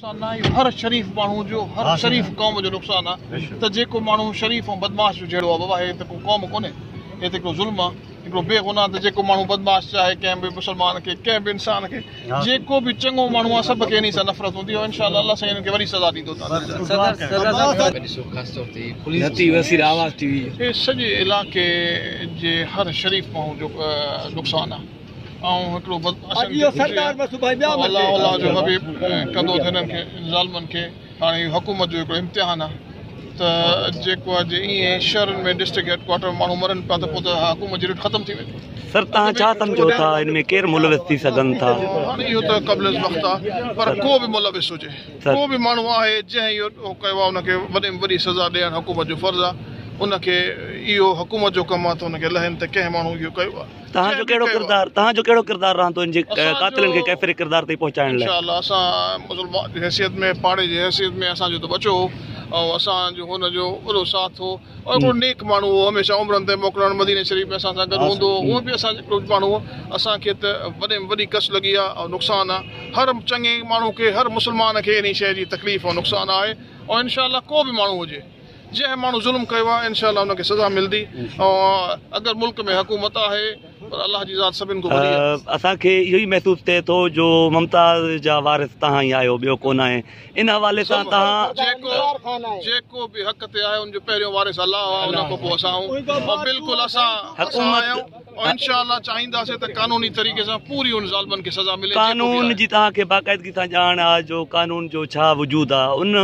نقصان نه اهو هر شريف ماڻهو جو هر شريف قوم جو نقصان آ ته جيڪو ماڻهو شريف ۽ بدمعاش جو جهيڙو آ بابا هي ته ڪو قوم ڪونهي هي ته هڪڙو ظلم آ هڪڙو بي گناهه ته جيڪو ماڻهو بدمعاش چاهي ڪنهن به مسلمان کي ڪنهن به انسان کي جيڪو به چڱو ماڻهو آ سڀ کي انهي سان نفرت هوندي آ انشاء الله الله سائين انهن کي وڏي سزا ڏيندو هي سڄي علائقي جي هر شريف ماڻهو جو نقصان آ آئون هڪڙو بس اسين کي گهرجي ۽ الله الله جو حبيب ڪندو ته هنن کي ظالمن کي هاڻي اهو حڪومت جو هڪڙو امتحان آ ته جيڪو آ جي ائين شهرن ۾ ڊسٽرڪٽ هيڊ ڪوارٽر مرن مرن پيا ته پوء ته اها حڪومت جي رٽ ختم ٿي ويندي. سر تهان ڇا سمجهو ٿا ان ۾ ڪير ملوث ٿي سگهن ٿا؟ هاڻي اهو ته قبل از وقت آ پر ڪو به ملوث هجي ڪو به ماڻهو آهي جنهن اهو ڪيو آ ان کي وڏي ۾ وڏي سزا ڏيڻ حڪومت جو فرض آ ان کي اهو حڪومت جو ڪم آ ته ان کي لهين ته ڪنهن ماڻهو اهو ڪيو آ. توهان جو ڪهڙو ڪردار توهان جو ڪهڙو ڪردار رهندو ان جي قاتلن کي ڪيفر ڪردار تائين پهچائڻ لاء انشاء الله اسان مسلمان جي حيثيت ۾ پاڙي جي حيثيت ۾ اسان جو ته ٻچو هو ۽ اسان جو هن جو وڏو ساٿ هو ۽ هڪڙو نيڪ ماڻهو هو هميشه عمرن تي موڪلڻ مديني شريف ۾ اسان سان گڏ هوندو هو هو به اسان جو هڪڙو ماڻهو هو اسان کي ته وڏي ۾ وڏي ڪس لڳي آهي ۽ نقصان آهي هر چڱي ماڻهو کي هر مسلمان کي انهي شيء جي تڪليف ۽ نقصان آهي ۽ انشاء الله ڪو به ماڻهو هجي جنهن ماڻهو ظلم ڪيو آهي انشاء الله ان کي سزا ملدي اگر ملڪ ۾ حڪومت آهي پر الله جي ذات سڀن کان وڏي آهي اسان کي اهو ئي محسوس ٿئي ٿو جو ممتاز جا وارث تهان ئي آهيو ٻيو ڪونه آهي ان حوالي سان تهان جيڪو به حق تي آهي ان جو پهريون وارث الله آهي ان کان پوء اسان آهيون بلڪل اسان حڪومت انشاءالله چاهينداسين ته قانوني طريقي سان پوري ان ظالمن کي سزا ملي قانون جي توهان کي باقاعدگي سان ڄاڻ آ جو قانون جو ڇا وجود آ ان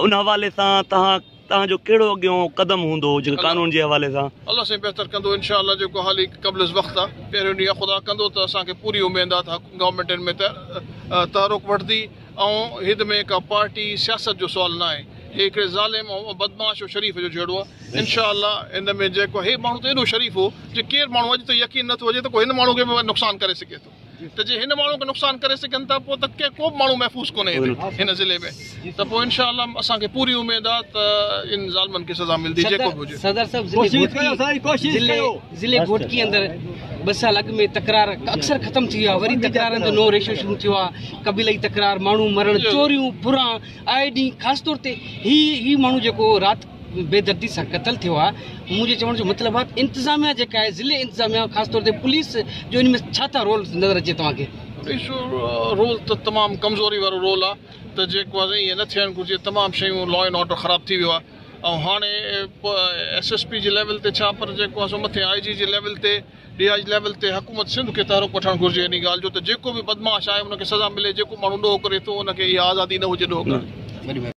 ان حوالي سان توهان توهان جو ڪهڙو اڳيون قدم هوندو جيڪو قانون جي حوالي سان الله سائين بهتر ڪندو انشاءالله جيڪو حالي قبل از وقت آ پهريون ڏينهن آ خدا ڪندو ته اسان کي پوري اميد آ ته گورنمينٽ ان ۾ تحرڪ وٺندي آئون هت ۾ ڪا پارٽي سياست جو سوال نه آهي هي هڪڙي ظالم ۽ بدمعاش ۽ شريف جو جهيڙو آ انشاء الله ان ۾ جيڪو هي ماڻهو ته ايڏو شريف هو جي ڪير ماڻهو اڄ تائين يقين نه ٿو هجي ته ڪو هن ماڻهو کي به نقصان ڪري سگهي ٿو ته جي هن ماڻهو کي نقصان ڪري سگهن ٿا پو ته ڪي ڪوبه ماڻهو محفوظ ڪونهي هتي هن ضلعي ۾ ته پو انشاء الله اسان کي پوري اميد آ ته ان ظالمن کي سزا ملدي جيڪو به هجي. ضلعي گهوٽڪي اندر ٻه سال اڳ ۾ تڪرار اڪثر ختم ٿي ويا وري تڪرارن جو نئون ريشو شروع ٿيو آهي قبيلائي تڪرار ماڻهو مرڻ چوريون ڦران آئي ڏينهن خاص طور تي هي هي ماڻهو جيڪو رات بي دردي سان قتل ٿيو آهي منهنجي چوڻ جو مطلب آهي انتظاميا جيڪا آهي ضلعي انتظاميا خاص طور تي پوليس جو ان ۾ ڇا ٿا رول نظر اچي توهان کي ريشو رول ته تمام ڪمزوري وارو رول آهي ته جيڪو آهي سائين ائين نه ٿيڻ گهرجي تمام شيون لا اينڊ آرڊر خراب ٿي ويو آهي ۽ هاڻي S S P level level تي ڇا پر جيڪو آهي سو مٿي آء جي جي ليول تي ڊي آء جي ليول تي حڪومت سنڌ کي تحرڪ وٺڻ گهرجي انهي ڳالهه جو ته جيڪو به بدمعاش آهي ان کي سزا ملي جيڪو ماڻهو ڏوهه ڪري ٿو ان کي اها آزادي نه هجي ڏوهه ڪرڻ جي.